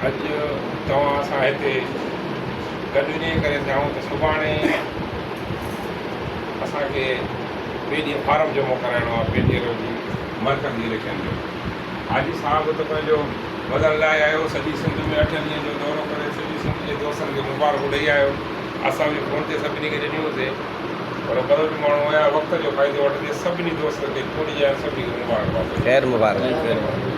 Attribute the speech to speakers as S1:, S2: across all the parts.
S1: اڄ توهان سان هتي گڏ انهيء ڪري ٿيائون ته سڀاڻي اسان کي ٻئي ڏينهن فارم جمع ڪرائڻو آهي پي ٽي ايل جي مرڪزي اليڪشن جو. حاجي صاحب ته پنهنجو وزن لاهي آيو، سڄي سنڌ ۾ اٺن ڏينهن جو دورو ڪري سڄي سنڌ جي دوستن کي مبارڪون ڏئي آيو. اسان به فون تي سڀني کي ڏنيون سي، پر بلوچ ماڻهو هيا وقت جو فائدو وٺندي سڀني دوستن کي چونڊجي آيا سڀني کي مبارڪباد ڏني.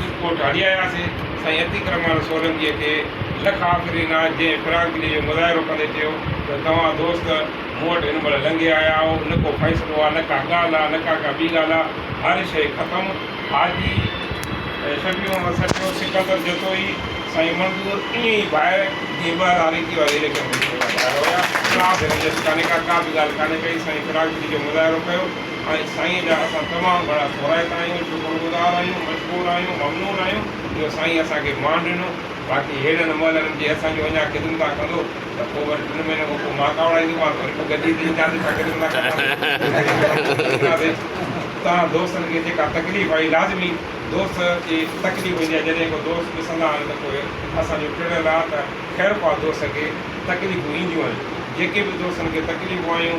S1: جي پوء ٽاڙي آياسين. سائين اتيڪرمان سولنگيء کي لک آفرين آهي، جنهن فراخدليء جو مظاهرو ڪندي چيو ته توهان دوست مون وٽ هن مهل لنگهي آيا آهو، نه ڪو فيصلو آهي، نه ڪا ڳالهه آهي، نه ڪا ڪا ٻي ڳالهه آهي، هر شيء ختم. حاجي شفيع محمد سرڪيو، سڪندر جتوئي، سائين منظور ائين ئي ڀائر جيئن ٻه هزار ايڪيهه واري اليڪشن ۾ ڇوٽا ڀائر هيا، ڪا به رنجش ڪانهي ڪا، ڪا به ڳالهه ڪانهي ڪئي، سائين فراخدليء جو مظاهرو ڪيو. ۽ سائين جا اسان تمام گھڻا ٿورائتا آهيون، شڪر گذار آهيون، مشڪور آهيون، ممنون آهيون جو سائين اسان کي مان ڏنو، باقي هيڏن مهلن جي اسان جون اڃا خدمتا ڪندو ته پوء وري ٽن مهينن کان پوء مان ڪاوڙائي ديمان ته وري پوء گڏجي تي اينداسين ته خدمتا ڪنداسين ۽ ڪراچي ۾ اينداسين. توهان دوستن کي جيڪا تڪليف آهي لازمي دوست کي تڪليف هوندي آهي جڏهن ڪو دوست ڏسندا آهن ته پوء اسان جو ٽڙيل آهي ته خيرخواهه دوست کي تڪليفون اينديون آهن جيڪي به دوستن کي تڪليفون آيون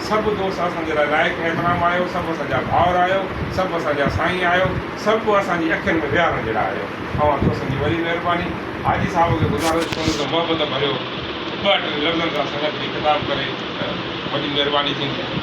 S1: سڀ دوست اسان جي لاء لائق احترام آهيو، سڀ اسان جا ڀائر آهيو، سڀ اسان جا سائين آهيو، سڀ اسان جي اکين ۾ ويهارڻ جهڙا آهيو. اوهان دوستن جي وڏي مهرباني. حاجي صاحب کي گذارش ڪندس ته محبت ڀريو ٻه ٽي لفظن سان سنگت کي خطاب ڪري ته وڏي مهرباني ٿيندي.